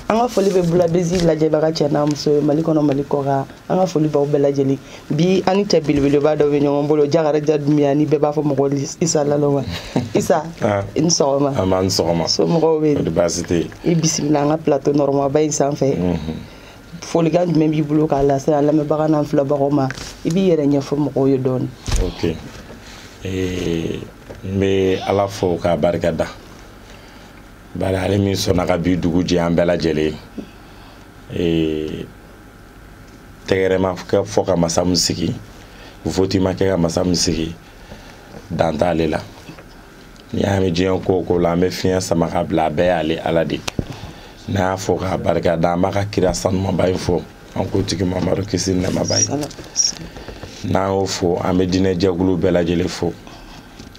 an ka foli bɛ bulabezi lajɛbaga cɛ n'a muso ye mali kɔnɔ mali kɔkan an ka foli b'aw bɛɛ lajɛlen bi an ni cɛ belebeleba dɔ bɛ ɲɔgɔn bolo jakarija dunbiya ni bɛɛ b'a fɔ a ma ko isa naloma isa ah. i ni sɔgɔma nba i ni sɔgɔma somɔgɔw bɛ yen baasi tɛ yen i bisimila an ka plateau nɔrɔmaba in sanfɛ mhm. folikan jumɛn b'i bolo k'a lase an lamɛnbaga n'an filɛbagaw ma i b'i yɛrɛ ɲɛfɔ mɔgɔw ye dɔɔni ok eh, n bɛ ala fo k'a barika da bari ale min sɔnna ka bi dugu jɛ an bɛɛ lajɛlen tɛgɛrɛ ma kɛ fɔ ka masa min sigi voti ma kɛ ka masa min sigi dan t'ale la n'i y'a mɛn diɲɛ ko o ko la an bɛ fiɲɛ sama ka bila a bɛɛ y'ale ala de ye n'an y'a fo k'a barika da an b'a ka kira sanumaba in fo an kuntigi mamadu kisi ni nɛɛma b'a ye n'an y'o fo an bɛ diinɛ jɛkulu bɛɛ lajɛlen fo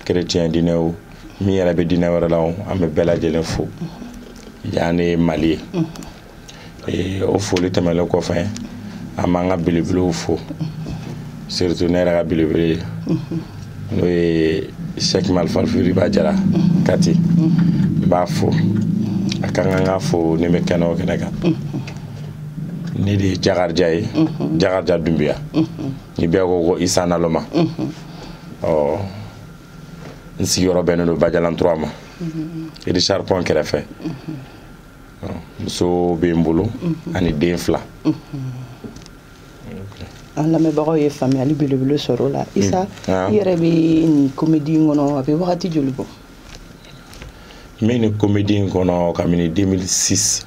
kerecɛn diinɛ o min yɛrɛ bɛ diinɛ wɛrɛ la o an bɛ bɛɛ lajɛlen fo yan de ye mali ye o foli tɛmɛnlen kɔfɛ an b'an ka belebelew fo surtout ne yɛrɛ ka belebele n'o ye sɛki malifalifiriba jara kati n b'a fo a ka kan ka fo ni n bɛ kɛnɛ o kɛnɛ kan ne de ye jakarija ye mhm. jakarija dunbiya mhm. ni bɛɛ ko ko isa naloma mhm. ɔ n sigiyɔrɔ bɛnnen don bajalan trois ma richard pɔn kɛrɛfɛ muso bɛ n bolo ani den fila an lamɛnbagaw ye faamuyali belebele sɔrɔ o la isa ah. i yɛrɛ bɛ nin comédie in kɔnɔ a bɛ wagati joli bɔ n bɛ nin comédie in kɔnɔ kabini 2006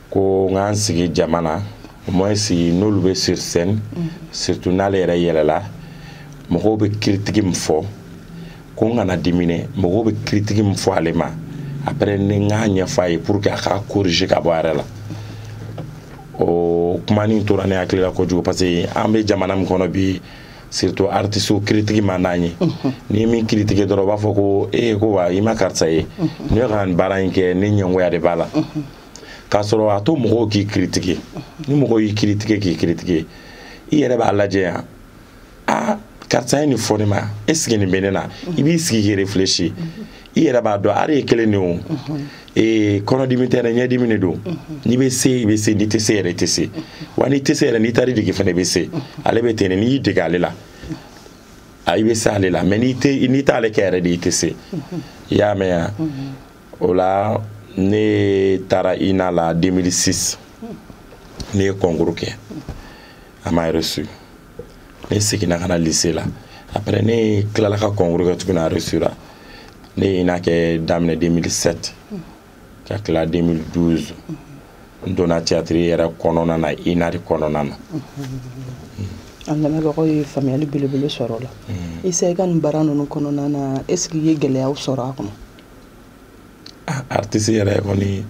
ko n ka n sigi jama na au moins n'olu bɛ sur scène mm. surtout n'ale yɛrɛ yɛlɛla mɔgɔw bɛ critique min fɔ ko n kana dimi dɛ mɔgɔw bɛ critique min fɔ ale ma après ni n k'a ɲɛfɔ a ye pour que a k'a corriger ka bɔ a yɛrɛ la o kuma nin tora ne hakili la kojugu parce que an bɛ jamana min kɔnɔ bi surtout artiste critique man d'an ye n'i ye min critiquer dɔrɔn u b'a fɔ ko ee ko wa i ma karisa ye ne ka nin baara in kɛ ne ɲɛngoya de b'a la k'a sɔrɔ a to mɔgɔw k'i critiquer ni mɔgɔ y'i critiquer k'i critiquer i yɛrɛ b'a lajɛ yan a karisa ye nin fɔ ne ma est-ce que nin bɛ ne na i b'i sigi k'i réfléchir i yɛrɛ b'a dɔn art ye kelen de o ee kɔnɔdimi tɛ dɛ ɲɛdimi de don n'i bɛ se i bɛ se n'i tɛ se yɛrɛ i tɛ se wa n'i tɛ se yɛrɛ n'i taara i dege fana i bɛ se ale bɛ ten de n'i y'i dege ale la a i bɛ se ale la mais n'i t'ale kɛ yɛrɛ de i tɛ se i y'a mɛn yan o la ne taara ina la 2006 ne ye concours kɛ a ma reçu ne seginna ka na lycée la après ne tilala ka concours kɛ tuguni a reçu la ne ye ina kɛ daminɛ 2007 ka tila 2012 n donna théâtre yɛrɛ kɔnɔna na ina de kɔnɔna na an lamɛnbagaw ye faamuyali belebele sɔrɔ o la isa i ka nin baara ninnu kɔnɔna na est ce que i ye gɛlɛyaw sɔrɔ a kɔnɔ artiste yɛrɛ kɔni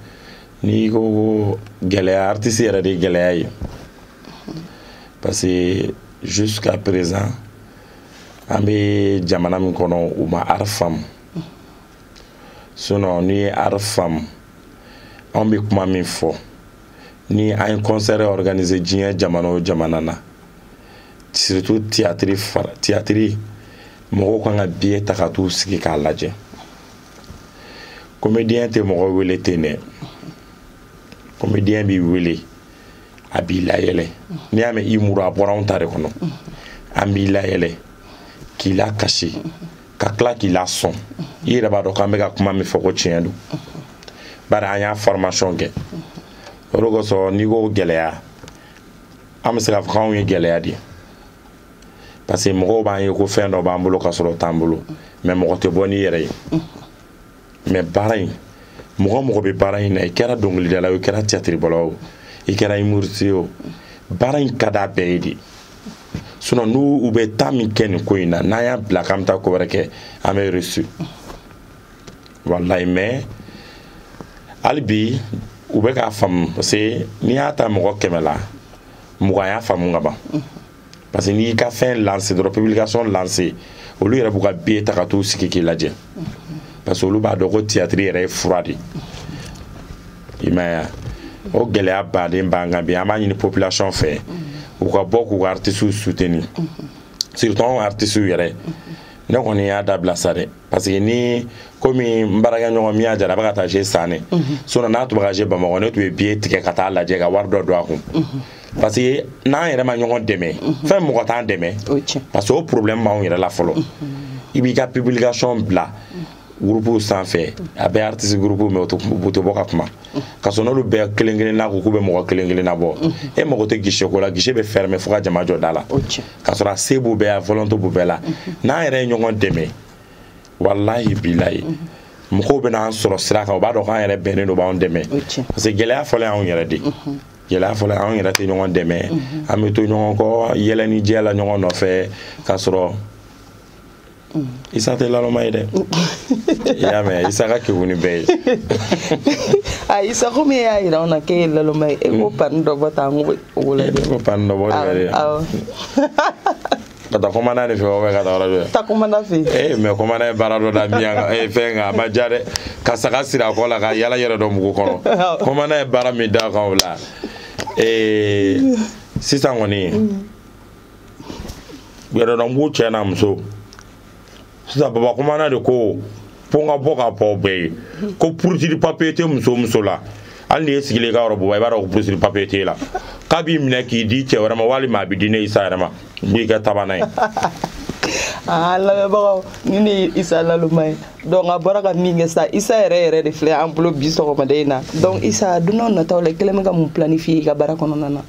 n'i ko ko gɛlɛya artiste yɛrɛ de gɛlɛya ye parce que jusqu'à présent an bɛ jamana min kɔnɔ u ma art faamu sinon n'i ye art faamu an bɛ kuma min fɔ ni an ye concert organiser diɲɛ jamana o jamana na surtout théâtre mɔgɔw kan ka billet ta ka t'u sigi k'a lajɛ comédien tɛ mɔgɔ wele ten dɛ comédien b'i wele a b'i layɛlɛ n'i y'a mɛn humour a bɔra anw ta de kɔnɔ an b'i layɛlɛ k'i lakasi ka tila k'i lasɔn i yɛrɛ b'a dɔn k'an bɛ ka kuma min fɔ ko tiɲɛ don bari an y'a formation kɛ o de kosɔn n'i ko gɛlɛya an bɛ se k'a fɔ k'anw ye gɛlɛya de ye parce que mɔgɔw b'an ye ko fɛn dɔ b'an bolo ka sɔrɔ o t'an bolo mais mɔgɔ tɛ bɔ n'i yɛrɛ ye mais baara in mɔgɔ o mɔgɔ bɛ baara in na i kɛra dɔnkilidala o i kɛra tiyatiribɔla o i kɛra humoriste o baara in ka d'a bɛɛ ye de sinon n'u bɛ temps min kɛ nin ko in na n'an y'a bila k'an bɛ taa ko wɛrɛ kɛ an bɛ reçu walayi mais hali bi u bɛ k'a faamu parce que n'i y'a ta mɔgɔ kɛmɛ la mugan y'a faamu ka ban parce que n'i y'i ka fɛn lancer dɔrɔn publication lancer olu yɛrɛ b'u ka billet ta ka t'u sigi k'i lajɛ parce que olu b'a dɔn ko théâtre yɛrɛ ye fura de i m'a ye o gɛlɛyaba de b'an kan bi an b'a ɲini population fɛ u ka bɔ k'u ka artistes soutenir surtout anw artistes yɛrɛ ne kɔni y'a dabila sa dɛ parce que ni komi n baarakɛɲɔgɔn min y'a jara a bɛ ka taa jouer san ne mhm. sinon n'a tun bɛ ka jouer bamakɔ ne tun bɛ billet tigɛ ka taa lajɛ ka wari dɔ don a kun mhm. parce que n'an yɛrɛ ma ɲɔgɔn dɛmɛ mhm. fɛn mɔgɔ t'an dɛmɛ parce que o problème b'anw yɛrɛ la fɔlɔ i b'i ka publication bila groupe sanfɛ a bɛ artiste groupe mais u tɛ bɔ ka kuma ka sɔrɔ n'olu bɛɛ kelen kelen na ko k'u bɛ mɔgɔ kelen kelen nabɔ e mago tɛ guichet ko la guichet bɛ fermer fo ka jama jɔ da la k'a sɔrɔ a se b'u bɛɛ ye a volonté b'u bɛɛ la n'an yɛrɛ ye ɲɔgɔn dɛmɛ walahi bilayi mɔgɔw bɛna an sɔrɔ sira kan u b'a dɔn k'an yɛrɛ bɛnnen don b'an dɛmɛ parce que gɛlɛya fɔlɔ y'anw yɛrɛ de gɛlɛya fɔlɔ anw yɛrɛ tɛ ɲɔgɔn dɛmɛ an bɛ to ɲɔgɔn kɔ yɛlɛnijɛ la ɲɔgɔn nɔfɛ k'a sɔrɔ Mm. isa tɛ laloma ye dɛ i y'a mɛn isa ka kegun ni bɛɛ ye a ah, isa komi e y'a yira anw na k'e ye laloma ye e ko mm. pani dɔ bɔ ta an ko o lajɛ e ko pani dɔ bɔ de yɛrɛ ka taa commandant de fɛ wa ka taa yɔrɔ dɔ taa commandant fɛ ee mais commandant ye baara dɔ da miyan kan ee fɛn kan a ma diya dɛ ka saga siri a kɔ la ka yala yɛrɛdɔnbugu kɔnɔ commandant ye baara min d'a kan o la ee sisan kɔni mm. yɛrɛdɔnbugu cɛ n'a muso sisan baba commandant de ko fo n ka bɔ k'a fɔ bɛɛ ye ko furusiri papier tɛ muso muso la hali n'i ye sigilen ka yɔrɔ bɔba i b'a dɔn ko furusiri papier t'e la k'a b'i minɛ k'i di cɛ wɛrɛ ma walima a bɛ di ne isa yɛrɛ ma n b'i kɛ tabana ye aa lamɛnbagaw ni ne ye isa laloma ye donc a bɔra ka min kɛ sa isa yɛrɛ yɛrɛ de filɛ an bolo bi sɔgɔmada in na donc isa don n'a nataw la i kɛlen bɛ ka mun planifier i ka baara kɔnɔna na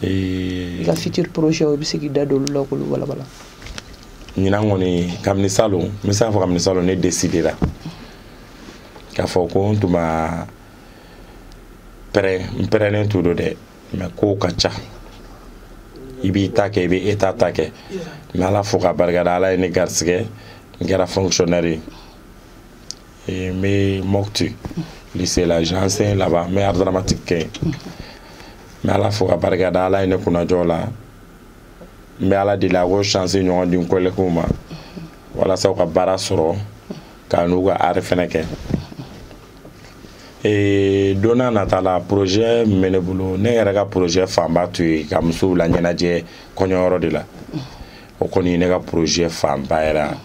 i ka futur projet o i bɛ se k'i da don olu la k'olu walawala ɲinan kɔni kabini salon n bɛ se k'a fɔ kabini salon ne décidera k'a fɔ ko n tun ma prêt n prêtnen tun don dɛ mais kow ka ca i b'i ta kɛ i bɛ état ta kɛ n bɛ ala fo k'a barikada ala ye ne garisigɛ n kɛra fonctionnaire ye n bɛ mopti lycée la j'enseigne là-bas n bɛ art dramatique kɛ yen n bɛ ala fo ka barika da ala ye ne kunnajɔ la n bɛ ala deli a k'o chance ɲɔgɔn di n collèguew ma walasa u ka baara sɔrɔ ka n'u ka art fɛnɛ kɛ ee don n'a nata la projet min bɛ ne bolo ne yɛrɛ ka projet fanba tun ye ka musow laɲɛnajɛ kɔɲɔyɔrɔ de la o kɔni ye ne ka projet fanba yɛrɛ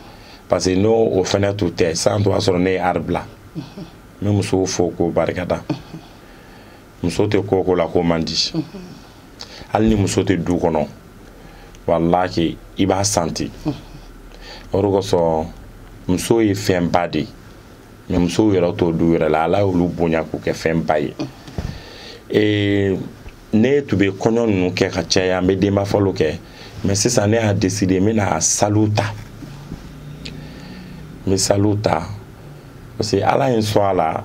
parce que n'o o fɛnɛ tun tɛ san tun b'a sɔrɔ ne ye art bila n bɛ musow fo k'u barikada muso tɛ ko o ko la ko man di hali ni muso tɛ du kɔnɔ walahi i b'a santi o de kosɔn muso ye fɛnba de ye mais musow yɛrɛ to du yɛrɛ la ala y'olu bonya k'u kɛ fɛnba ye ee ne tun bɛ kɔɲɔ ninnu kɛ ka caya n bɛ denbafɔli kɛ mais sisan ne y'a décider n bɛna salle ta n bɛ salle ta parce que ala ye n sɔn a la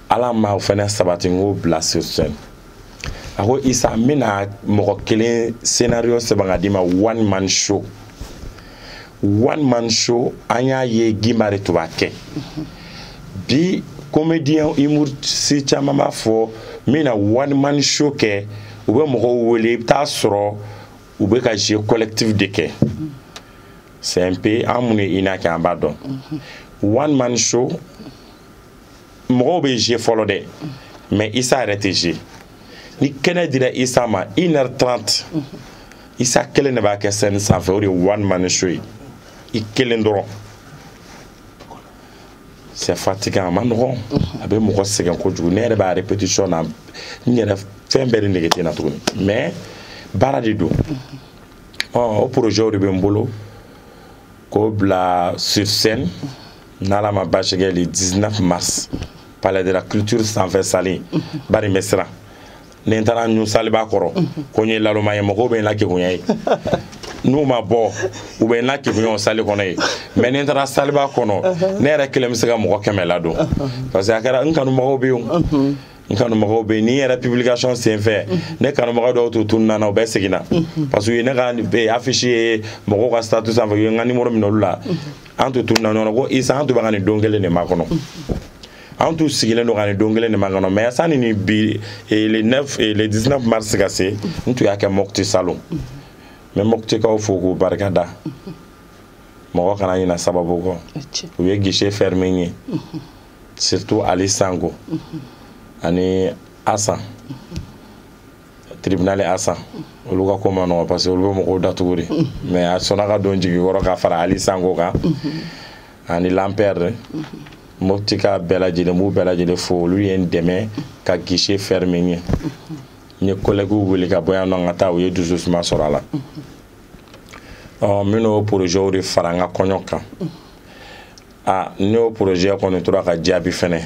ala ma o fɛnɛ sabati n k'o bila sur scène a ko isa n bɛna mɔgɔ kelen scénario sɛbɛn ka d'i ma one man show one man show an y'a ye gimba de tun b'a kɛ bi comédien humoriste caman b'a fɔ n bɛna one man show kɛ u bɛ mɔgɔw wele i bɛ taa sɔrɔ u bɛ ka jeu collectif de kɛ c'est un peu an minnu ye ina kɛ an b'a dɔn one man show mɔgɔw bɛ jouer fɔlɔ dɛ mais isa yɛrɛ tɛ jouer ni kɛnɛ dira isa ma 1h30 isa kelen de b'a kɛ scène sanfɛ o de ye one man show ye i kelen dɔrɔn c'est fatigant a ma nɔgɔn a bɛ mɔgɔ sɛgɛn kojugu ne yɛrɛ b'a répétition na n yɛrɛ fɛn bɛɛ de nege tɛ n na tuguni mais baara de don ɔ o projet de bɛ n bolo k'o bila sur scène n'ala ma baasi kɛ le 19 mars palais de la culture sanfɛ salle bari n bɛ siran ni n taara ɲun salleba kɔrɔ ko n ye naloma ye mɔgɔw bɛ n lakegunya yen n'u ma bɔ u bɛ n lakegunya o salle kɔnɔ yen mais ni n taara salleba kɔnɔ ne yɛrɛ kelen bɛ se ka mɔgɔ kɛmɛ ladon parce que a kɛra n kanubagaw bɛ yen n kanubagaw bɛ yen nin yɛrɛ publication senfɛ ne kanubaga dɔw tun tununna n na u bɛɛ seginna parce que u ye ne ka affiche ye mɔgɔw ka statut sanfɛ u ye n ka numéro minɛ olu la an tun tununna ɲɔgɔn na ko isa an tun bɛ ka nin don kelen de makɔnɔ an tun sigilen don ka nin don kelen de makɔnɔ mais sani ni bi eh, le 9 eh, le 19 mars ka se n tun y'a kɛ mopti salon mais moptikaw fo k'u barika da mɔgɔ kana ɲina sababu kɔ u ye guichet fermé ye surtout ali sango ani asan tribunal asan olu ka ko ma nɔgɔ parce que olu bɛ mɔgɔw datugu de mais a sɔnna ka don jigi kɔrɔ ka fara ali sango kan ani lampɛrɛ moptika bɛɛ lajɛlen n b'u bɛɛ lajɛlen fo olu ye n dɛmɛ ka guichet fermé ye n ye collèguew wele ka bɔ yan nɔ ka taa u ye dususuma sɔrɔ a la minnu o projet de fara n ka kɔɲɔ kan aa n'o projet kɔni tora ka jaabi fɛnɛ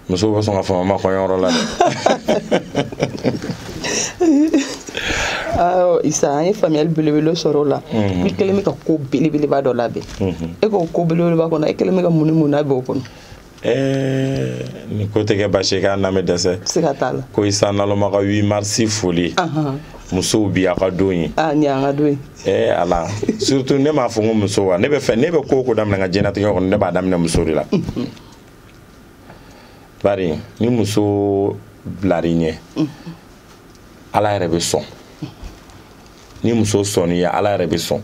muso bɛ sɔn ka fama ma kɔɲɔyɔrɔ la dɛ isa an ye faamuyali belebele sɔrɔ o la i kelen bɛ ka ko belebeleba dɔ labɛn e k'o ko belebeleba kɔnɔ e kelen bɛ ka mun ni mun labɛn o kɔnɔ ni ko tɛ kɛ baasi ye k'a na bɛ dɛsɛ siga t'a la ko isa naloma ka 8 mars foli musow bi a ka don ye a ni an ka don ye ee ala surtout ne m'a fɔ n ko muso wa ne bɛ fɛ ne bɛ ko o ko daminɛ n ka diɲɛnatigɛ kɔnɔ ne b'a daminɛ muso de la bari ni muso bilar'i ɲɛ ala yɛrɛ bɛ sɔn ni muso sɔnn'i ye ala yɛrɛ bɛ sɔn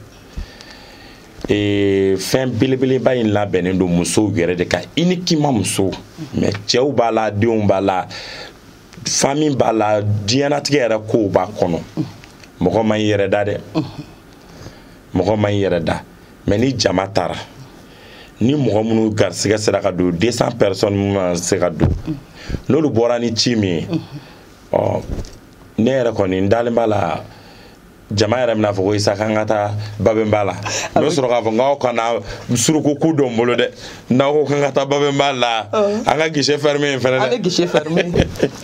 ee fɛn belebeleba in labɛnnen don musow yɛrɛ de kan uniquement muso mais cɛw b'a la denw b'a la famille b'a la diɲɛnatigɛ yɛrɛ kow b'a kɔnɔ mɔgɔ ma i yɛrɛ da dɛ mɔgɔ ma i yɛrɛ da mais ni jama taara ni mɔgɔ minnu garisigɛ sera ka don 200 personnes minnu na se ka don n'olu bɔra ni ci min ye ɔ ne yɛrɛ kɔni n dalen b'a la jama yɛrɛ bɛna fɔ ko isa k'an ka taa babɛnba la n bɛ sɔrɔ k'a fɔ n'aw kana suruku ku dɔn n bolo dɛ n'aw ko k'an ka taa babɛnba la an ka guichet fermé in fɛnɛ dɛ an bɛ guichet fermé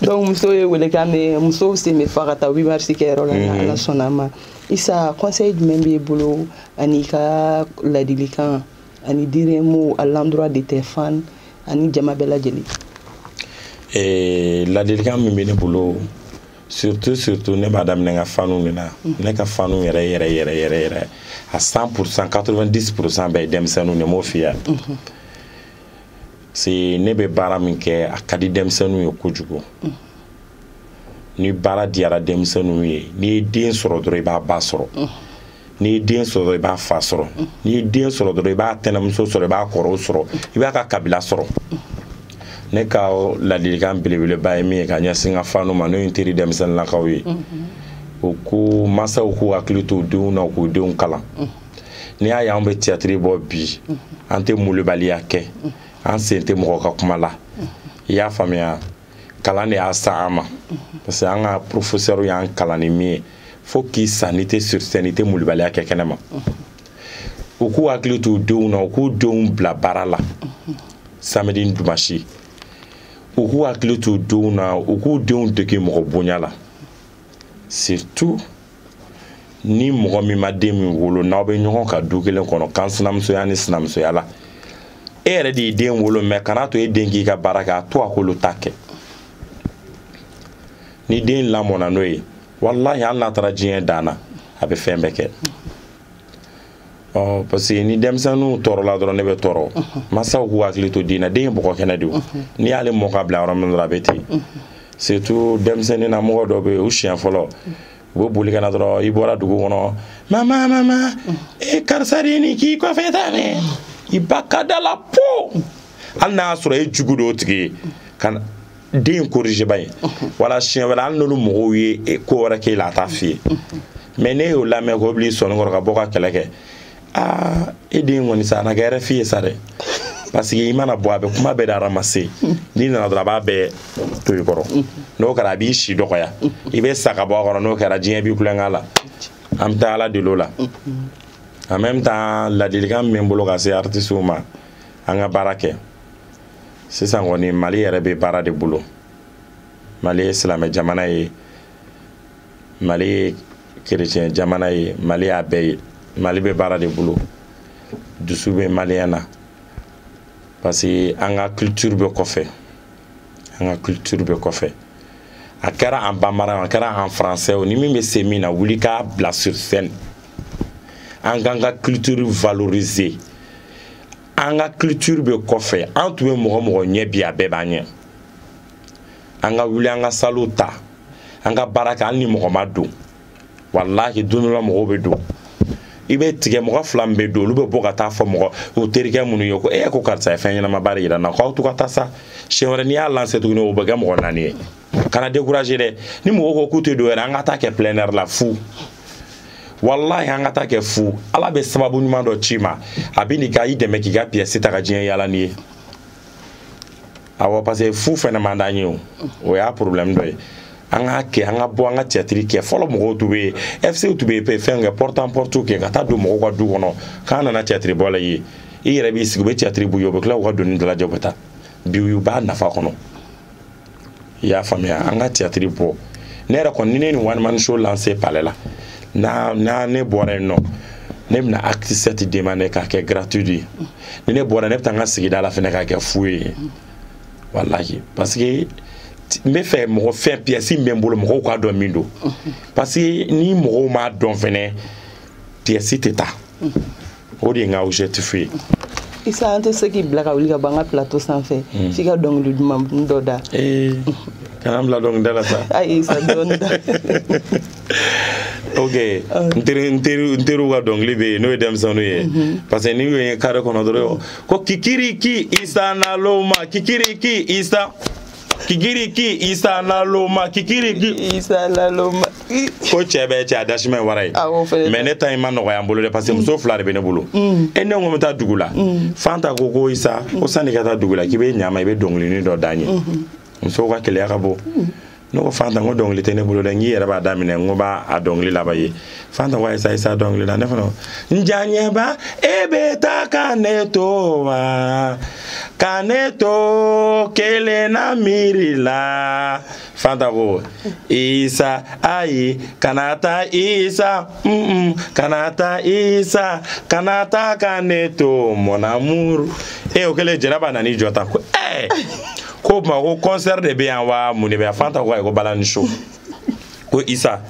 donc musow ye welekan mɛn musow sen bɛ fa ka taa 8 mars kɛyɔrɔ la ni mhm. ala sɔnna a ma isa conseil jumɛn b'i bolo an'i ka ladilikan ani dire mot à l'endroit de tes fans ani jama bɛɛ lajɛlen eh, ladilikan min bɛ ne bolo surtout surtout ne b'a daminɛ n ka fanu de la ne ka fanu yɛrɛ yɛrɛ yɛrɛ yɛrɛ yɛrɛ à 100 pourcent 90 pourcent bɛɛ ye denmisɛnninw de m'o f'i ye c'est ne bɛ baara min kɛ a ka di denmisɛnninw ye kojugu ni baara diyara denmisɛnninw ye n'i ye den sɔrɔ dɔrɔn i b'a ba sɔrɔ n'i ye den sɔrɔ i b'a fa sɔrɔ n'i ye den sɔrɔ dɔrɔn i b'a tɛnɛmuso sɔrɔ i b'a kɔrɔw sɔrɔ i b'a ka kabila sɔrɔ ne ka ladilikan belebeleba ye min ye ka ɲɛsin n ka fanu ma n'o ye n teri denmisɛnninlakaw ye o ko mansaw k'u hakili to denw na k'u denw kalan n'i y'a ye an bɛ tiyatiri bɔ bi an tɛ molibaliya kɛ an sen tɛ mɔgɔ ka kuma la i y'a faamuya kalan de y'a sa an ma parce que an ka professeur y'an kalan ni min ye fo k'i sa n'i tɛ sur scène i tɛ molibaliya kɛ kɛnɛma u k'u hakili t'u denw na u k'u denw bila baara la samedi ni dimanche u k'u hakili t'u denw na u k'u denw dege mɔgɔ bonya la surtout ni mɔgɔ min ma den min wolo n'aw bɛ ɲɔgɔn ka du kelen kɔnɔ kan sinamusoya ni sinamusoya la e yɛrɛ de ye den wolo mais kana to e den k'i ka baara kɛ a to a k'olu ta kɛ ni den lamɔna n'o ye walahi hali n'a taara diɲɛ dan na a bɛ fɛn bɛɛ kɛ ɔ parce que ni denmisɛnninw tɔɔrɔla dɔrɔn ne bɛ tɔɔrɔ masaw k'u hakili to den na den ye bɔgɔ kɛnɛ de ye n'i y'ale mɔ k'a bila yɔrɔ min dɔrɔn a bɛ ten surtout denmisɛnnin na mɔgɔ dɔ bɛ yen u siɲɛ fɔlɔ u bɛ boli ka na dɔrɔn i bɔra dugu kɔnɔ mama mama e karisa de ye nin k'i kɔfɛ tan dɛ i b'a k'a da la po hali n'a y'a sɔrɔ e jugu don o tigi y'e ka den korizebaa ye wala siɲɛ wɛrɛ hali n'olu mɔgɔw ye e, ko wɛrɛ k'e la a t'a f'i ye mais n'e y'o lamɛn k'o bil'i sɔnni kɔrɔ ka bɔ ka kɛlɛ kɛ aa e den kɔni sa a na kɛ RFI ye sa dɛ parce que i mana bɔ a bɛ kuma bɛɛ de ramasser n'i nana dɔrɔn a b'a bɛɛ to i kɔrɔ n'o kɛra a b'i si dɔgɔya i bɛ sa ka bɔ a kɔrɔ n'o kɛra diɲɛ b'i kulonkɛ la an bɛ taa ala deli o la en même temps ladilikan min bɛ n bolo ka se artisiw ma an ka baara kɛ sisan kɔni mali yɛrɛ bɛ baara de bolo mali ye silamɛ jamana ye mali ye kerecɛn jamana ye mali y'a bɛɛ ye mali bɛ baara de bolo dusu bɛ malien na parce que an ka culture bɛ kɔfɛ an ka culture bɛ kɔfɛ a kɛra en bambara a kɛra en français o ni min bɛ se min na wuli k'a bila sur scène an k'an ka culture valoriser an ka culture bɛ kɔfɛ an tun bɛ mɔgɔ mɔgɔ ɲɛ bi a bɛɛ b'an ɲɛ an ka wuli an ka salle ta an ka baara kɛ hali ni mɔgɔ ma don walahi don dɔ la mɔgɔw bɛ don i bɛ tigɛ mɔgɔ fila min bɛ don olu bɛ bɔ ka taa fɔ mɔgɔ u terikɛ minnu ye ko e ko karisa ye fɛn ɲɛnamaba de yira n na k'aw to ka taa sa siɲɛ wɛrɛ n'i y'a lancer tuguni o bɛ kɛ mɔgɔ naani ye kana décourager dɛ ni mɔgɔw ko k'u tɛ don yɛrɛ an ka taa kɛ plein air la fu walahi an ka taa kɛ fu ala bɛ sababu ɲuman dɔ c'i ma a bɛ nin ka i dɛmɛ k'i ka pièce ta ka diɲɛ yaala n'i ye awɔ parce que fu fɛnɛ man d'an ye o o y'a problème dɔ ye an k'a kɛ an ka bɔ an ka théâtre kɛ fɔlɔ mɔgɔw tun bɛ fc tun bɛ fɛn kɛ porte en porte kɛ ka taa don mɔgɔw ka du kɔnɔ k'an nana théâtre bɔ l'aw ye i yɛrɛ b'i sigi u bɛ théâtre b'u ye u bɛ tila k'u ka doni dalajɛ u bɛ taa bi u b'a nafa kɔnɔ i y'a faamuya an ka théâtre bɔ ne yɛrɛ kɔni ni ne nin one man show lancer palais la n'a n'a ne bɔra yen nɔ ne bɛna acte sept demander k'a kɛ gratuit ye ni ne bɔra ne bɛ taa n ka sigida la fɛnɛ k'a kɛ fu ye walahi parce que n bɛ fɛ mɔgɔ fɛn pièce min bɛ n bolo mɔgɔw k'a dɔn min don parce que ni mɔgɔw m'a dɔn fɛnɛ pièce tɛ taa o de ye n ka objectif ye isa an tɛ se k'i bila ka wuli ka bɔ an ka plateau sanfɛ hmm. f'i ka dɔnkili duman dɔ da eh, kana n bila dɔnkili da la sa ayi isa dɔɔni da ok ah. n teri n teri n teriw ka dɔnkili bɛ yen n'o ye denmisɛnninw ye mhm. parce que n'i y'o ye carré kɔnɔ dɔrɔn ko kikiriki isa naloma kikiriki isa kikiriki isa naloma kikiriki isa naloma ko cɛ bɛ cɛ a dasima wara ye mais ne ta in ma nɔgɔya n bolo dɛ parce que muso fila de bɛ ne bolo mm. e ne ko n bɛ taa dugu la mm. fanta ko ko isa ko sanni ka taa dugu la k'i bɛ ɲama i bɛ dɔnkilinin dɔ d'an ye mm-hmm. musow ka keleya ka bɔ mm. ne ko fanta n ko dɔnkili tɛ ne bolo dɛ n k'i yɛrɛ b'a daminɛ n ko b'a a dɔnkili laban ye fanta ko isa isa dɔnkili la ne fana n janyɛba e bɛ taa ka ne to wa ka ne to kelen na miiri la fanta ko isa ayi kana taa isa mm -mm, kana taa isa kana taa ka ne to mon amour e o kɛlen jɛnɛba nana i jɔ tan ko ɛɛ ko o tuma ko concert de bɛ yan wa mun de bɛ yan fanta ko ayi ko balani show ko isa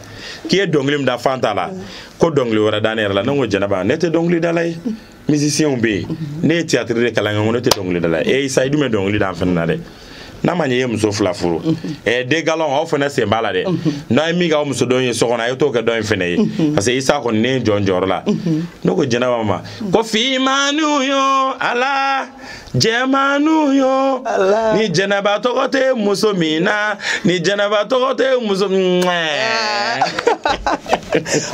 k'i ye dɔnkili min da fanta la ko dɔnkili wɛrɛ da ne yɛrɛ la ne ko jɛnɛba ne tɛ dɔnkilidala ye musicienw bɛ yen ne ye théâtre de kalan kɛ n ko ne tɛ dɔnkilidala ye e isa i dun bɛ dɔnkili da an fana na dɛ n'a ma ɲɛ i ye muso fila furu ɛɛ deux galons aw fana sen b'a la dɛ n'a ye min k'aw muso dɔ ye so kɔnɔ a ye t'o kɛ dɔ in fana ye parce que isa kɔni ne ye jɔn jɔyɔrɔ la ne ko jɛnɛba ma ko finmaniw yo ala jɛmaniw yo ni jɛnɛba tɔgɔ tɛ muso min na ni jɛnɛba tɔgɔ tɛ muso ah.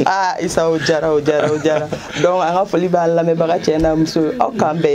aa isa o jara o jara o jara donc an ka foli b'a lamɛnbaga cɛ n'a muso aw k'an bɛn